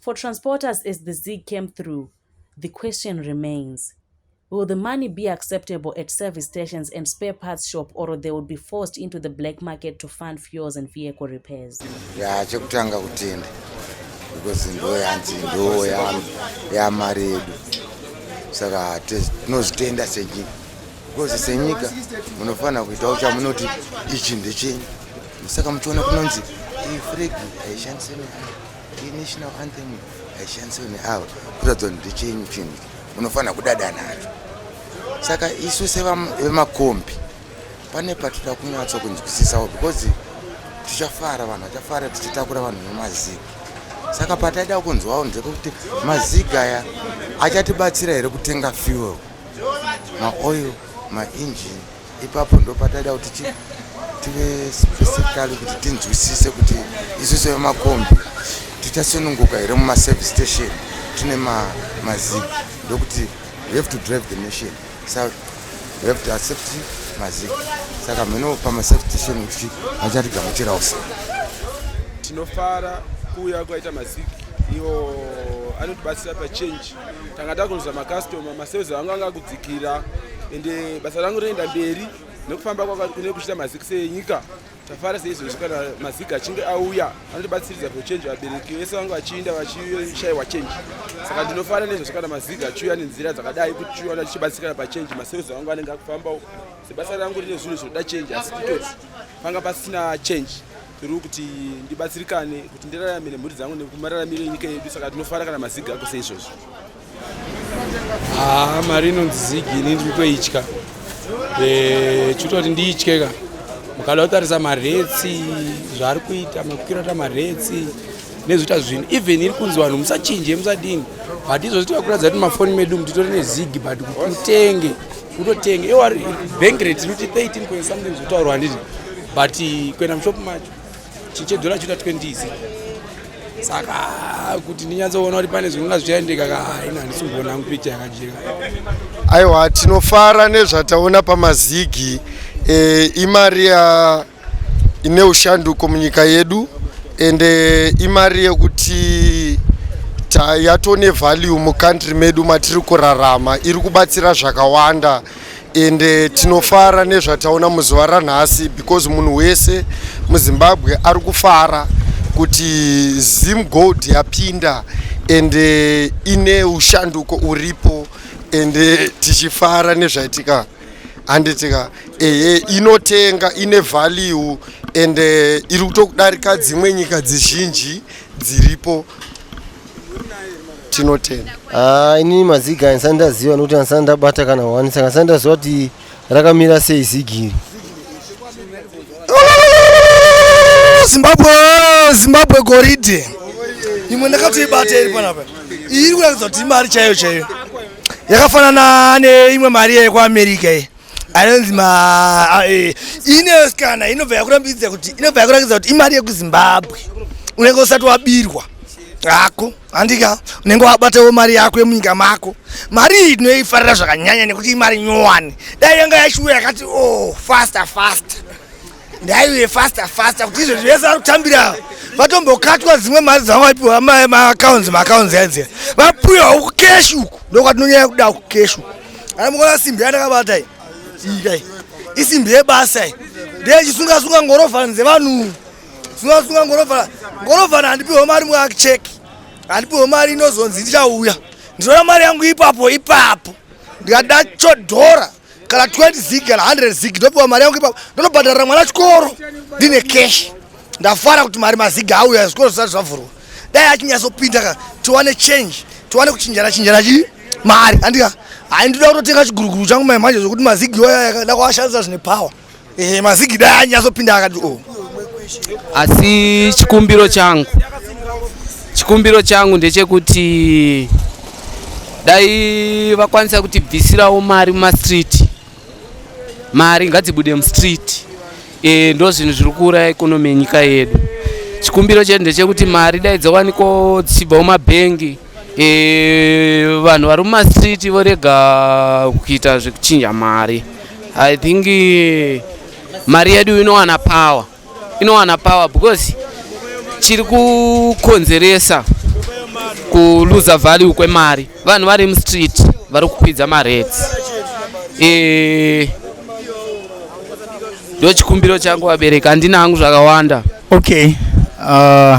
For transporters as the Zig came through, the question remains, will the money be acceptable at service stations and spare parts shop or they would be forced into the black market to fund fuels and vehicle repairs? Yeah, chekutanga kutenda because ndo yanzi ndo yamari yedu saka tinozvitenda senyika because senyika munofanira kuitawo chamunoti ichi ndechenyu saka muchiona kunonzi iyi fregi haishandise mari National anthem haishandiswe neavo kuratidza kuti ndechenyu chinhu unofanira kudada nacho saka isu sevemakombi pane patida kunyatsa kunzwisisawo because tichafara vanhu vachafara tichitakura vanhu vemazivi saka pataida kunzwawo ndekuti maziga aya achatibatsira here kutenga fuel maoil mainjini ipapo ndopataida kuti chi tive specifically kuti tinzwisise kuti isu sevemakombi tichasununguka here mumaservice station tine mazig ndokuti we have to drive the nation sa we have to accept mazig saka mheno pamaservice station kuti vachatigamuchirawo se tinofara kuuya kwaita mazig iwo anotibatsira pachange tanga takunzwa makastoma masales vangu anga kudzikira ende basa rangu rinoenda mberi nekufamba kwakune kuchita maziki senyika tafara seizvozvi kana maziki achinge auya anotibatsiridza kuchange vabereki vese vangu vachiinda vachishaiwa change saka ndinofara nezvozvi kana maziki achiuya nenzira dzakadai kuti chiwana tichibatsirikana pachange masales vangu anenge akufambawo sebasa rangu rine zvinhu zvinoda change asi kutoti panga pasina change tiri kuti ndibatsirikane kuti ndiraramire mhuri dzangu nekumararamire nyika yedu saka tinofara kana mazigi ako seizvozvo haa ah, mari inonzi zigi ini ndiri kutoitya eh, chitoti ndiitye ka mukada kutarisa maretsi zvaari kuita makukirata maretsi nezvita zvinhu even iri kunzi vanhu musachinje musadini but izvozvi tikakuratidza kuti mafoni medu mutitori nezigi but kutenge kutotenga iwo ari bank rate rikuti 13 point something zvitaurwa handiti but kuenda mushop macho chinche dhola chita 20 izi saka kuti ndinyatsoona kuti pane zvinonga zvichaendeka ka haina handisi kuona hangu picha yakajeka aiwa tinofara nezvataona pamazigi e, imari ya ine ushanduko munyika yedu ende imari yekuti yatone value mucountry medu matiri kurarama iri kubatsira zvakawanda ende tinofara nezvataona muzuva ranhasi because munhu wese muzimbabwe ari kufara kuti zim gold yapinda ende ine ushanduko uripo ende tichifara nezvaitika handitika ehe inotenga ine value and eh, iri kutokudarika dzimwe nyika dzizhinji dziripo tinotenda Ah, inini mazigi andisati ndaziva nokuti andisati ndabata kana hwani saka andisati ndaziva kuti rakamira sei zigi iri zimbabwe zimbabwe goridhe imwe ndakatoibata iri panapa iyi iri kuratidza kuti imari chaiyo chaiyo yakafanana neimwe mari yekuamerica iyi anonzi eh, inesikana inobva yakurambidza kuti inobva yakurakidza kuti imari yekuzimbabwe unenge usati wabirwa hako handika unenge wabatawo mari yako yemunyika mako mari iyi tinoifarira zvakanyanya nekuti imari nyowani dai yanga yashuwa yakati o oh, faster faster ndaiuye faster faster kuti izvezvi vese vari kutambira vatombokatwa dzimwe mari dzavo vaipiwa maakaunzi maakaunzi aidzi vapiwa uku keshi uku ndokwatinonyanya kuda uku keshi uku ana mukona simbi yandakabata i ikai isimbi yebasa i ndechisungasunga ngorovhana dzevanhu sungasunga ngorovhana ngorovhana handipiwa mari muakicheki handipiwa mari inozonzi ndichauya ndinoda mari yangu ipapo ipapo ndikada chodhora kana 20 zig kana 100 zig ndopiwa mari yangu ipapo ndonobhadharira mwana chikoro ndine cash ndafara kuti mari maziga auya zvikoro zvisati zvavhurwa dai achinyazopinda ka tiwane change tiwane kuchinjana chinjana chii mari andika hayi ndoda kutotenga chiguruguru changu mai manje zvokuti mazigi yoyayada kuashandisa zvine power Eh, mazigi dai anyazopinda akati oh. Asi chikumbiro changu chikumbiro changu ndechekuti dai vakwanisa kuti bvisirawo mari mumastreet mari ngadzibude mustreet e, ndo zvinhu zviri kuuraya ikonomi yenyika yedu chikumbiro chedu ndechekuti mari dai dzowanikwawo dzichibva mumabhengi e, vanhu vari mumastreet vorega kuita zvekuchinja mari i think eh, mari yedu inowana power inowana power because chiri kukonzeresa kuluza value kwemari vanhu vari mustreet vari kukwidza marates e, ndo chikumbiro changu vabereki handina hangu zvakawanda okay uh...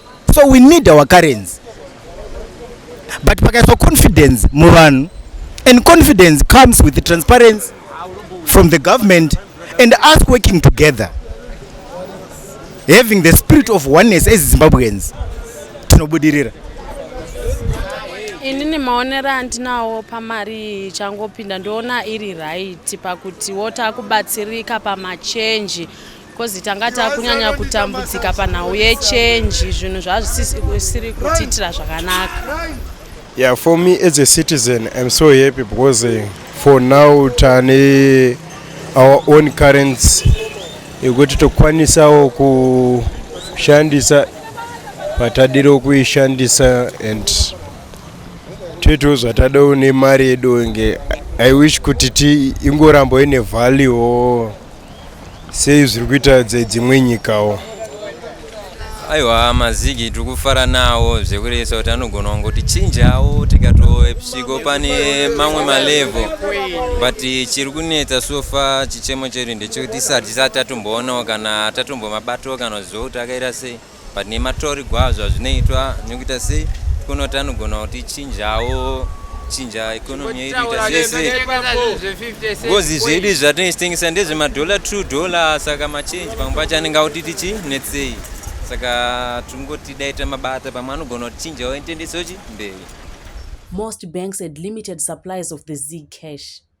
so we need our currency but pakaiswa confidence muvanhu and confidence comes with transparency from the government and us working together having the spirit of oneness as zimbabweans tinobudirira inini maonero andinawo pamari ichangopinda ndoona iri right pakutiwo takubatsirika pamachenji Kozi tanga takunyanya kutambudzika panhau yechenji zvinhu zvazvisiri kutiitira zvakanaka. Yeah, for me as a citizen, I'm so happy because uh, for now tane our own currency yekuti tokwanisawo kushandisa patadiro kuishandisa and toitawo zvatadawo nemari yedu inge i wish kuti ti ingorambo ine value sei zviri kuita dzedzimwe nyikawo aiwa mazigi tiri kufara nawo zvekurevesa kuti anogona kungotichinjawo tikatoepsiko pane mamwe malevel but chiri kunetsa sofa chichemo chedu ndechekuti tisati tisati tatomboonawo kana tatombomabatawo kana zvokuti akaita sei but nematorigwa azvo azvinoitwa nekuita sei kunoti anogona kuti chinjawo chinja economy yedu ita zvese ngozi zvedu izvi zvatinoitengesa ndezvemadollar two dollar saka machange pamwe pacho anenge akuti tichi netsei saka tingoti daita mabata pamwe anogona kuti chinjawo itendesochi mberi most banks had limited supplies of the z cash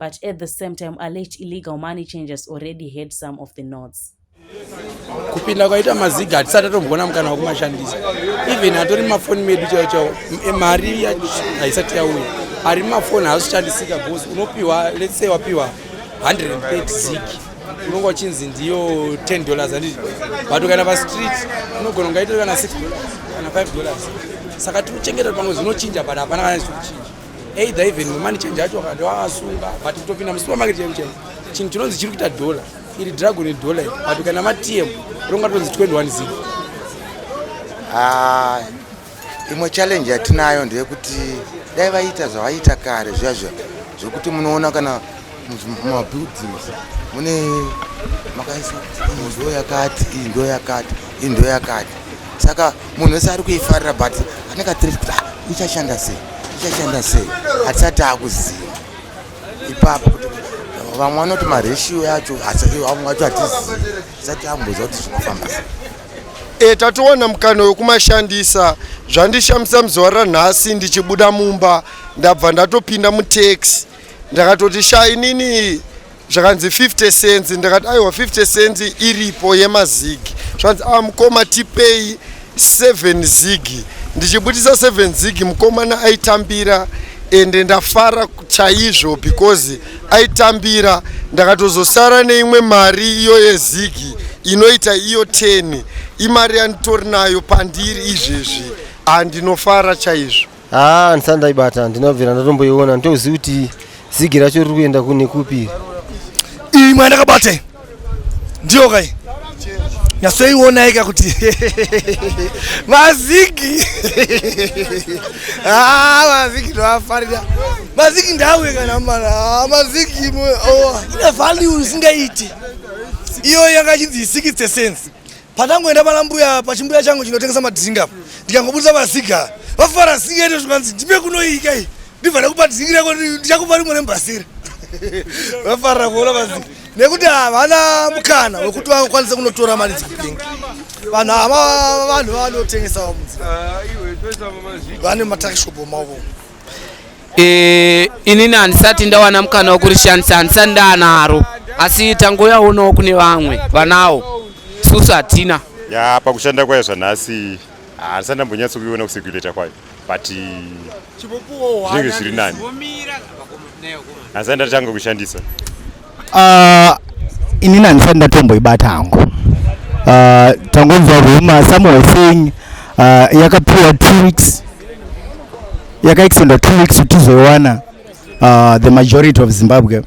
But at the same time, alleged illegal money changers already had some of the notes. kupinda kwaita maziga hatisati atomboona mukana wekumashandisa even atori mumafoni medu chao chao mari haisati yauya ari mumafoni haazoshandisika bcause unopiwa let's say wapiwa 130 zig unonga uchinzi ndiyo 10 dollars andii but ukaenda pastreet unogona kungaitore kana 6 dollars kana 5 dollars saka tinochengeta pamwe zvinochinja but hapana kana zvirikuchinja either even mumani change acho vakati vavasunga but kutopinda musupermarket chaimu chaimu chinhu chinonzi chiri kuita dhola iri dragon dhola iri but kana matm ronga tonzi 21 zig ah, imwe challenge yatinayo ndeyekuti dai vaita zvavaita kare zviya zviya zvekuti munoona kana mumabuildings mune makaisa kuti iyi yakati iyi ndo yakati iyi ndo yakati saka munhu wese ari kuifarira but anenge atiri kuti ah, ichashanda sei ichashanda sei hatisati akuziva ipapo kuti vamwe vanoti mareshiyo yacho vamwe vacho hatizivi tisati amboziva kuti zvinofamba sei e tatowana mukana wekumashandisa zvandishamisa muzuva ranhasi ndichibuda mumba ndabva ndatopinda mutaxi ndakatoti sha inini zvakanzi 50 cents ndakati aiwa 50 cents iripo yemazigi zvanzi a ah, mukoma tipei 7 zigi ndichibudisa 7 zigi mukomana aitambira ende ndafara chaizvo because aitambira ndakatozosara neimwe mari iyo yezigi inoita iyo 10 imari yanditori nayo pandiri izvezvi handinofara chaizvo haa ah, ndisati ndaibata ndinobvira ndatomboiona nditozivi kuti zigi racho riri kuenda kune kupi iyi mwana ndakabate ndiyo kai nyasoionaika kuti mazigi ah, mazigi ndoafarira mazigi ndauye kana mana ah, mazigi oh. ine value isingaiti iyo yanga chinzi isikitse sense Patangoenda pana mbuya pachimbuya changu chinotengesa madrink apa ndikangobudisa vasiga vafara singa ito zvikanzi ndipe kunoika iyi ndibva ndakupa drink rako ndichakupa rimwe rembasira vafarira kuona vasiga nekuti havana mukana wekuti vakwanise kunotora mari dzekutenga vanhu ava vanhu vanotengesa vamunzi ah, vane matakishopo mavo e, inini handisati ndawana mukana wekurishandisa handisati ndaanaro asi tangoyaonawo kune vamwe vanawo susu hatina ya pakushanda kwayo zvanhasi handisati ndambonyatso kuiona kuseguleta kwayo but zvinenge zviri nani handisati ndatanga kushandisa Uh, inini handisati ndatomboibata hangu uh, tangonzwa ruma some were saying uh, yakapiwa two weeks yakaextenda two weeks kuti tizoiwana uh, the majority of zimbabwe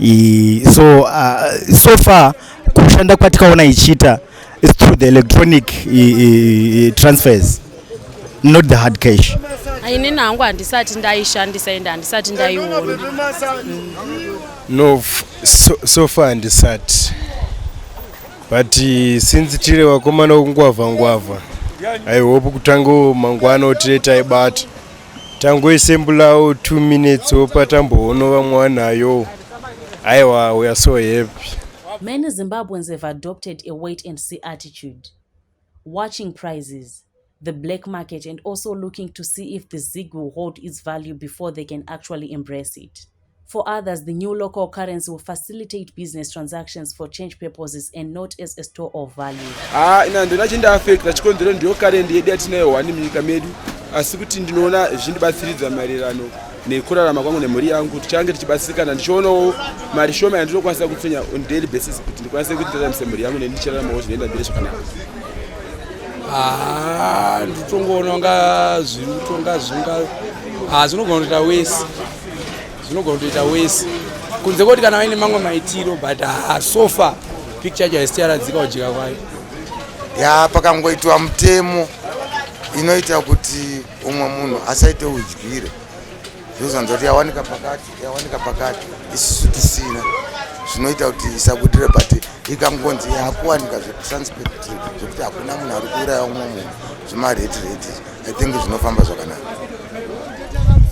I, so uh, so far kushanda kwatikaona ichiita is through the electronic i, i, i transfers not the hard cash ini nangu handisati ndaishandisa ende handisati ndaiona mm. no so, so far handisati but eh, since tiri vakomana vokungwavha ngwavha i hope kutango mangwana otire taibata tangoisembulawo two minutes opa tambohono vamwe wanayo aiwa weare so happy many zimbabweans have adopted a wait and see attitude watching prices, the black market and also looking to see if the zig will hold its value before they can actually embrace it. For others, the new local currency will facilitate business transactions for change purposes and not as a store of value. Ah, ina ndona chinda affect chikonzero ndiyo current yedu yatinayo wani munyika medu asi kuti ndinoona zvindibatsiridza maererano nekurarama kwangu nemhuri yangu tichange tichibatsirikana ndichionawo mari shoma yandinokwanisa kutsonya on daily basis kuti ndikwanise kuti ndiraramisa mhuri yangu neni ndichiraramawo zvinoenda mbiri zvakanaka ah, nditongoona nga zviri kutonga zvinga ah, zvinogona kutoita wese zvinogona kutoita wese kunze kwoti kana vaine mamwe maitiro but ah, so far picture yacho haisiti yaradzika kujika kwayo ya pakangoitwa mutemo inoita kuti umwe munhu asaite udyire zvozonza kuti yawanika pakati yawanika pakati isisu tisina zvinoita kuti isabudire but ikangonzi yakuwanika zvesanspect zvekuti hakuna munhu ari kuuraya umwe munhu zvemareti reti i think zvinofamba zvakanaka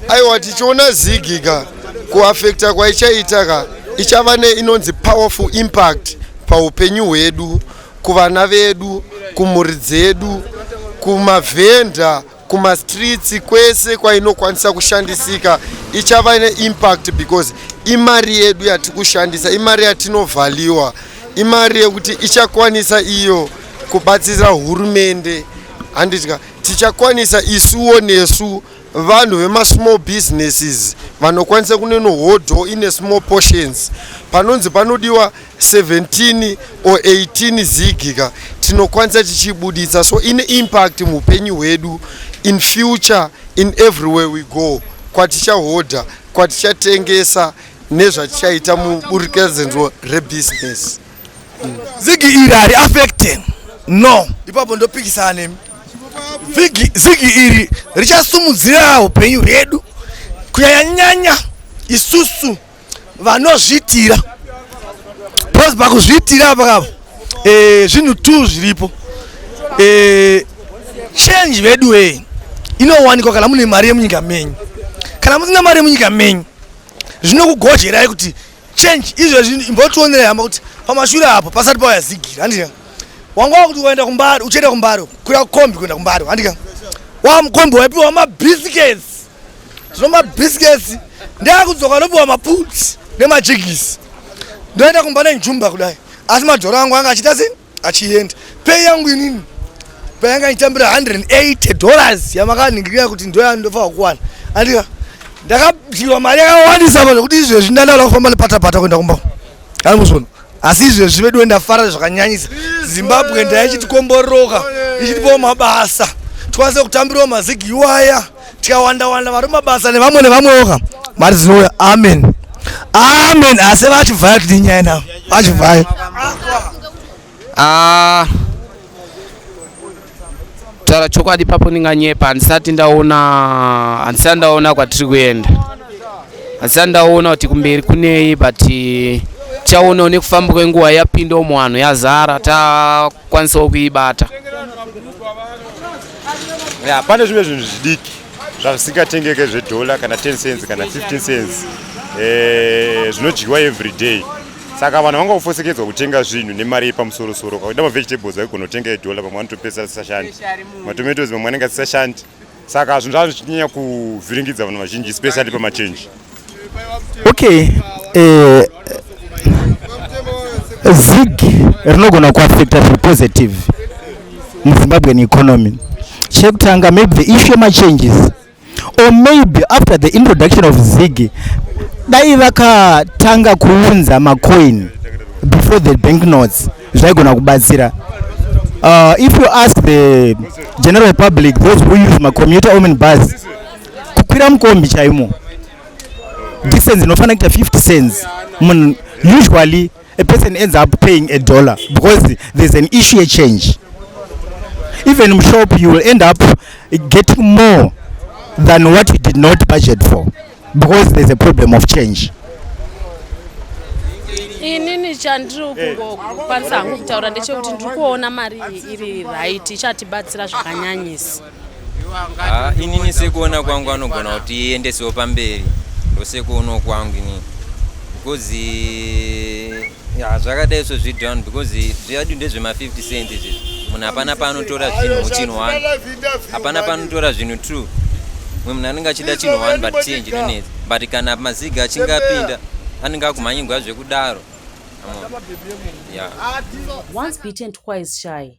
aiwa tichiona zigi ka kuafekta kwaichaita ka ichava neinonzi powerful impact paupenyu hwedu kuvana vedu kumhuri dzedu kumavhenda kumastreets kwese kwainokwanisa kushandisika ichava neimpact because imari yedu yatiri kushandisa imari yatinovhaliwa imari yekuti ichakwanisa iyo kubatsira hurumende handitya tichakwanisa isuwo nesu Vanhu vema small businesses vanokwanisa kuneno hodho ine small portions panonzi panodiwa 17 or 18 zigika tinokwanisa tichibuditsa so ine impact muupenyu hwedu in future in everywhere we go kwatichahodha kwatichatengesa nezvatichaita muburikedzanzwo rebusiness Zigi iri ari affected. No. Ipapo ndopikisana nemi. Zigi zigi iri richasumudzira upenyu hwedu kunyanyanya isusu vanozviitira. Pose pakuzviitira pakavo. Eh zvinhu tu zviripo. Eh change vedu eh inowanikwa kana mune mari yemunyika menyu. Kana musina mari yemunyika menyu zvinokugojerai kuti change izvezvi imbotionerai hama kuti pamashure apo pasati pauya zigira handika wanga wakuti ukaenda kumbari uchienda kumbari kuya kombi kuenda kumbari handika wamukombi waipiwa mabiscuits zvino mabiscuits ndakudzoka anopiwa maputs nemajigisi ndoenda kumba nenjumba kudai asi madhoro angu anga achita sei achienda pei yangu inini payanga nditambira 180 dollars yamakaningirira kuti ndoya ndofanira kuwana andika ndakadyiwa mari yakawandisa pano kuti izvezvi ndandala kufamba nepatapata kuenda kumba amusono asi izvezvi vedu ndafara zvakanyanyisa zimbabwe ndaichitikombororoka ichitipawo mabasa tikwanise kutambirawo mazigi iwaya tikawanda wanda vari mabasa nevamwe nevamweoka mari dzinouya amen amen asi vachibvaya kuti nyaya navo vachibvaya ah, taura chokwadi papo ndinganyepa handisati ndaona handisati ndaona kwatiri kuenda handisati ndaona kuti kumberi kunei but tichaonawo nekufamba kwenguva yapinda umo vanhu yazara takwanisawo kuibata ya pane zvimwe zvinhu zvidiki zvasingatengeke zvedhola kana 10 cents kana 15 cents eh, zvinodyiwa every day saka vanhu vanga kufosekedzwa kutenga zvinhu nemari yepamusorosoro kakuda mavegetables vaigona kutenga edhola pamwe vanotopesa asisashandi matomatoes mamwe anenge asisashandi saka zvinhu zvava zvichinyanya kuvhiringidza vanhu vazhinji especially pamachange okay eh, zig rinogona kuafecta zviri positive muzimbabwean economy chekutanga maybe the issue machanges or maybe after the introduction of zig dai vakatanga kuunza macoin before the bank notes zvaigona kubatsira uh, if you ask the general public those who use macommuter omen bus kukwira mukombi chaimo distance inofanira kuita 50 cents munhu usually a person ends up paying a dollar because there's an issue a change even mushop you will end up getting more than what you did not budget for because there's a problem of change inini chandiri eh. kungokwanisa hangu kutaura ndechekuti ndiri kuona mari iri right ichatibatsira zvakanyanyisa Ah, inini sekuona kwangu anogona kuti iendesewo pamberi ndosekuonawo kwangu inini because ya zvakadai so zvidown because zviadu ndezvema50 cent izvi munhu hapana paanotora zvinhu muchinhu one hapana paanotora zvinhu two mwe munhu anenge achida chinhu one but change inonetsa but kana maziga achinge apinda anenge akumhanyigwa zvekudaro yeah. once beaten twice shy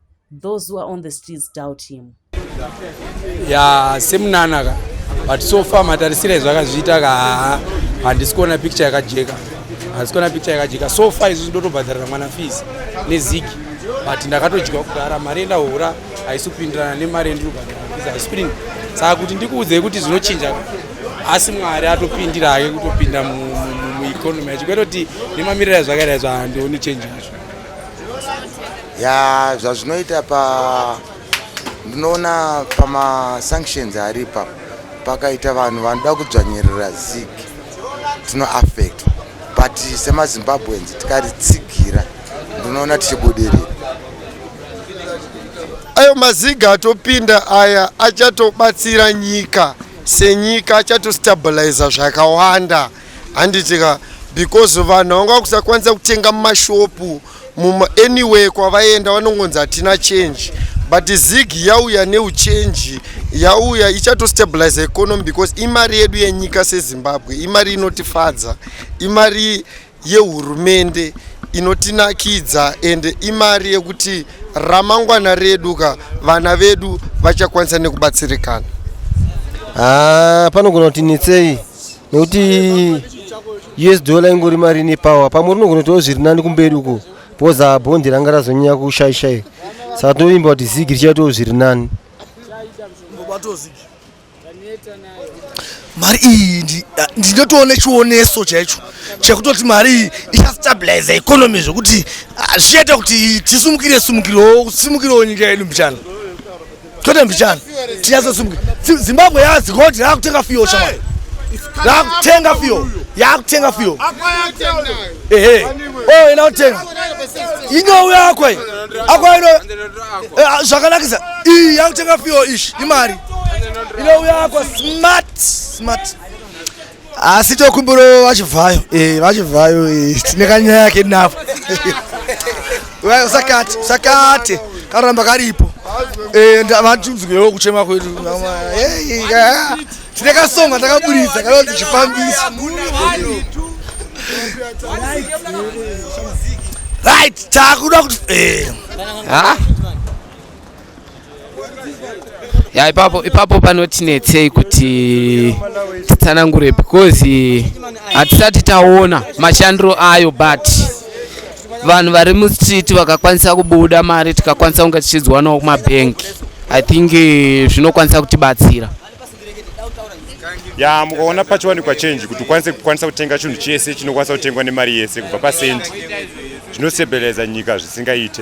Those who are on the streets doubt him. Yeah, semunana ka. But so far matarisira izvo akazviita ka handisi kuona picture yakajeka. Handisi kuona picture yakajeka. So far izvo ndotobhadharira mwana fees neziki. But ndakatodyiwa kudhara mari enda hura haisi kupindirana nemari yendinobhadhara fees haisi kudini. Saka kuti ndikuudzei kuti zvinochinja asi Mwari atopindira hake kutopinda mu, mu, mu, mu economy achikweroti nemamirira ezvakaita izvo handioni change yacho. ya zvazvinoita pa ndinoona pamasanctions aripa pakaita vanhu vanoda kudzvanyirira zig tinoaffect but semazimbabweans tikaritsigira ndinoona tichibudirira ayo maziga atopinda aya achatobatsira nyika senyika achatostabiliza zvakawanda handitika because vanhu vanga vakusakwanisa kutenga mumashopu mumaanyway kwavaenda vanongonzi hatina change but zig yauya neuchange yauya ichatostabilize economy because imari yedu yenyika sezimbabwe imari inotifadza imari yehurumende inotinakidza ende imari yekuti ramangwana redu ka vana vedu vachakwanisa nekubatsirikana ah, panogona kuti netsei nokuti us dollar ingori mari ine power pamwe unogona kutoo zviri nani kumberi uko because ah, bhondi ranga razonyanya kushaishai saka tinovimba kuti zigi richaitoo zviri nani mari iyi ah, ndinotoona chioneso chaicho chekutoti mari iyi ichastabilize economy zvekuti ah, zvichaita kuti tisumukire sumukirewo simukirewo nyika yedu mbichana Tote mbichana. Tiyazo sumke. Zimbabwe ya zikoti la kutenga fio shama. La kutenga fio. Ya kutenga fio. Eh eh. Oh ina kutenga. Inyo uya akwa. Akwa ino. Eh, zvakanakisa. Iyi ya kutenga fio ish. Imari. Ino uya akwa smart smart. asi tokumbiro vachibvayo eh, vachibvayo eh, tine kanyaya yake navo usakate usakate karamba karipo eh, vatunzwewo kuchema kwedu tine kasonga takaburitsa kanonzi chifambisi right takuda kuti ya ipapo ipapo panotinetsei kuti titsanangure because hatisati taona mashandiro ayo but vanhu vari mustreet vakakwanisa kubuda mari tikakwanisa kunge tichidziwanawo kumabhengi i think eh, zvinokwanisa kutibatsira ya mukaona pachiwanikwa change kuti ukwanise kukwanisa kutenga chinhu chese chinokwanisa kutengwa nemari yese kubva pasendi zvinosebeleza nyika zvisingaite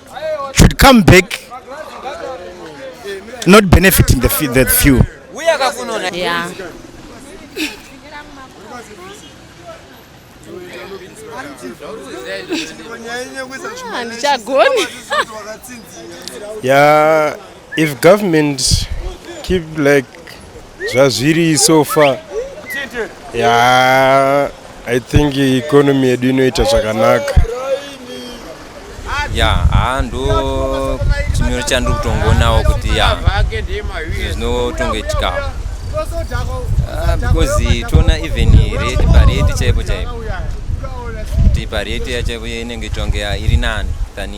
should come back not benefiting the few, the few. Yeah. Ah, ndichagoni ya If government keep like zvazviri so far yeah, I think economy yedu inoita zvakanaka ya haa ndo chimiro chandiri kutongonawo kuti ya zvinotongoitika ah, because toona even rate parate chaipo chaipo kuti parate yachaipo inenge tonge iri nani than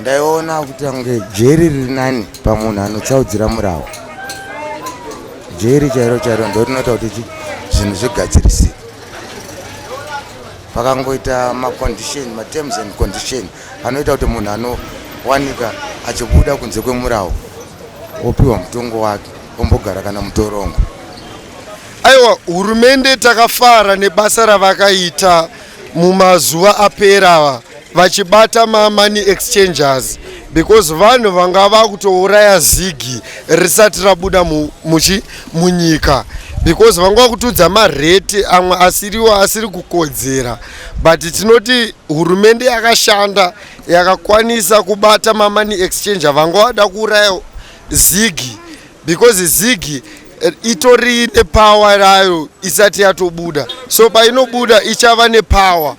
ndaiona kuti ange jeri riri nani pamunhu anotsaudzira murawo jeri chairo chairo ndo rinoita kuti zvinhu zvigadzirisike pakangoita macondition materms and condition anoita kuti munhu anowanika achibuda kunze kwemurawo opiwa mutongo wake ombogara kana mutorongo aiwa hurumende takafara nebasa ravakaita mumazuva apera ava vachibata mamoney exchangers because vanhu vanga vakutouraya zigi risati rabuda muchi munyika because vanga vakutudza marate amwe asiriwo asiri kukodzera but tinoti hurumende yakashanda yakakwanisa kubata mamoney exchanger vanga vada kuuraya zigi because zigi Eh, itori nepawa rayo isati yatobuda so painobuda ichava nepawa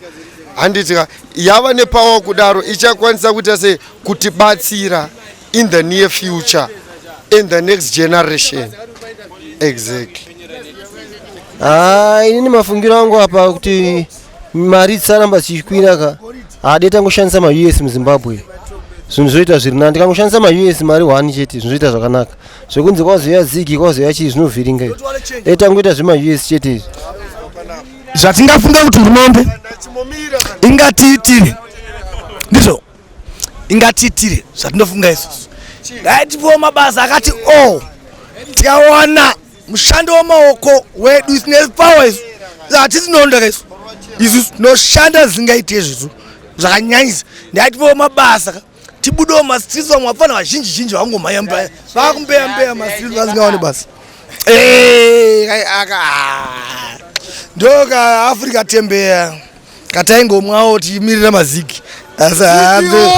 handitika yava nepawa kudaro ichakwanisa kuita sei kutibatsira in the near future and the next generation exactly ah, inini mafungiro angu apa kuti mari dzisaramba dzichikwira ka haade tangoshandisa maus muzimbabwe zvinhu zvoita zviri nani tikangoshandisa maus mari one chete zvinhu zvoita zvakanaka zvekunzi kwazouya zigi kwazouya chii zvinovhiringa izvi e tangoita zvema us chete izvi zvatingafunga kuti hurumende ingatiitire ndizvo ingatiitire zvatinofunga isusu ngaitipiwo mabasa akati o oh, tikawana mushando wemaoko wedu isine power isu hatisi noondaka isu isu tinoshanda zvingaite zvisu zvakanyanyisa ndaitipiwo mabasa tibudewo mastreets vamwe vapfana vazhinji zhinji vangomhaya mba vakumbeya mbeya mastreets vasingaone basa aka ndo ka africa tembeya kataingomwawo tichimirira maziki asi hambe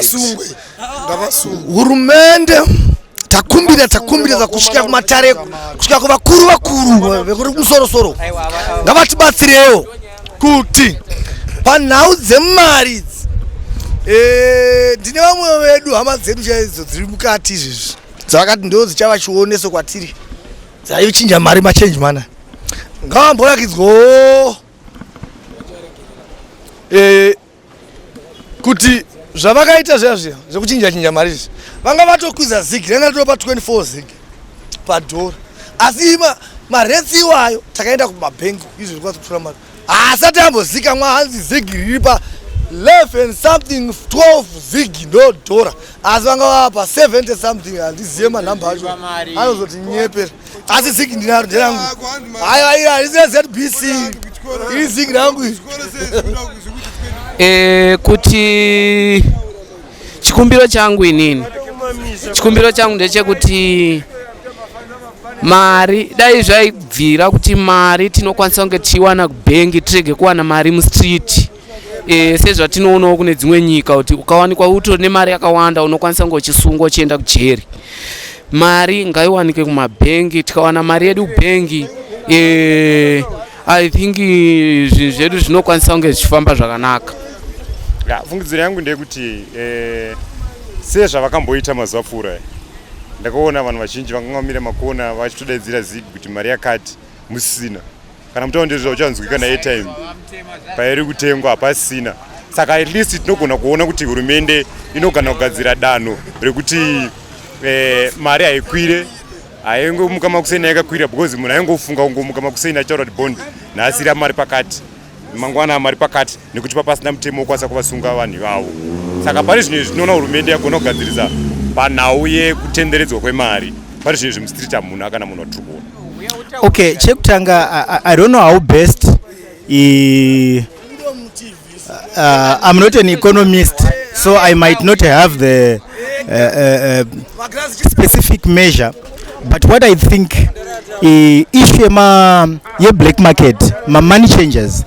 Sungwe. ngavasungwe hurumende takumbira takumbira kusvika kumatare kusvika kuvakuru vakuru vekuri kumusoro soro ngavatibatsirewo kuti panhau dzemari idzi eh, ndine vamwe vedu hama dzedu chaidzo dziri mukati izvezvi dzavakati ndo dzichava chioneso kwatiri dzaichinja mari machange mana ngavamborakidzwawo eh, kuti zvavakaita zviya zviya zvekuchinja chinja mari izvi vanga vatokwiza zigi ranga ritopa 24 zigi padhora asi maretsi iwayo takaenda kumabhengi izvo zviri kwasa kutora mari haasati ambozikamwa hanzi zigi riri pa 11 something 12 zigi ndo dhora asi vanga vava pa 70 something handizive manhamba acho anozotinyepera asi zigi ndinaro nderangu haya ira risina zbc iri zigi rangu eh, kuti chikumbiro changu inini chikumbiro changu ndechekuti mari dai zvaibvira kuti mari tinokwanisa kunge tichiwana kubhengi tirege kuwana mari mustreet e, sezvatinoonawo kune dzimwe nyika kuti ukawanikwa utori nemari yakawanda unokwanisa kunge uchisungwa uchienda kujeri mari ngaiwanike kumabhengi tikawana mari yedu bhengi e, i think zvinhu zvedu zvinokwanisa kunge zvichifamba zvakanaka ya fungidziro yangu ndeyekuti e, sezvavakamboita mazuva pfuura ndakaona vanhu vazhinji vakanga vamira makona vachitodaidzira zig kuti mari yakati musina kana mutaundezva uchanzwika naairtime pairi kutengwa hapasina saka at least tinogona kuona kuti hurumende inogana kugadzira danho rekuti eh, mari haikwire haingomuka makuseni yakakwira because munhu aingofunga kungomuka makuseni achaura kuti bond nhasira mari pakati mangwana mari pakati nekuti papasina mutemo wokwanisa kuvasunga vanhu ivavo saka pane zvinhu izvi tinoona hurumende yagona kugadzirisa panhau yekutenderedzwa kwemari pane zvinhu izvi mustreet hamuna kana munhu watiri kuona okay chekutanga I, i don't know how best i, uh, i'm not an economist so i might not have the uh, uh, uh, specific measure but what i think issue yema yeblack market mamoney changers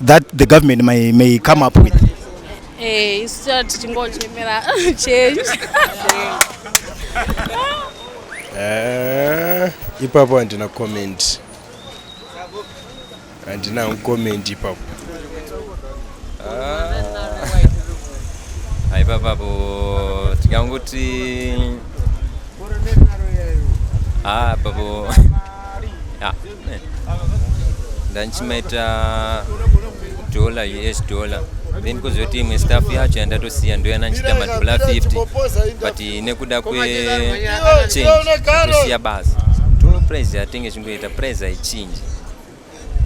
that the government may, may come up with eh, isu hey, tichingochemera change eh, ipapo handina comment handina comment ipapo ah, ipapapo tikanguti ah, papo yeah. ndandichimaita dollar us dollar then kozoti imwe staff yacho yandatosiya ndoyana ndichiita madollar 50 but nekuda kwechange tosiya basa to price yatenge chingoita price haichinji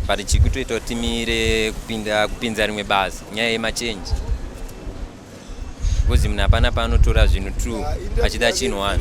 but chikutoita kuti timire kupinda kupinza rimwe basa nyaya yemachange because munhu hapana paanotora zvinhu two achida chinhu one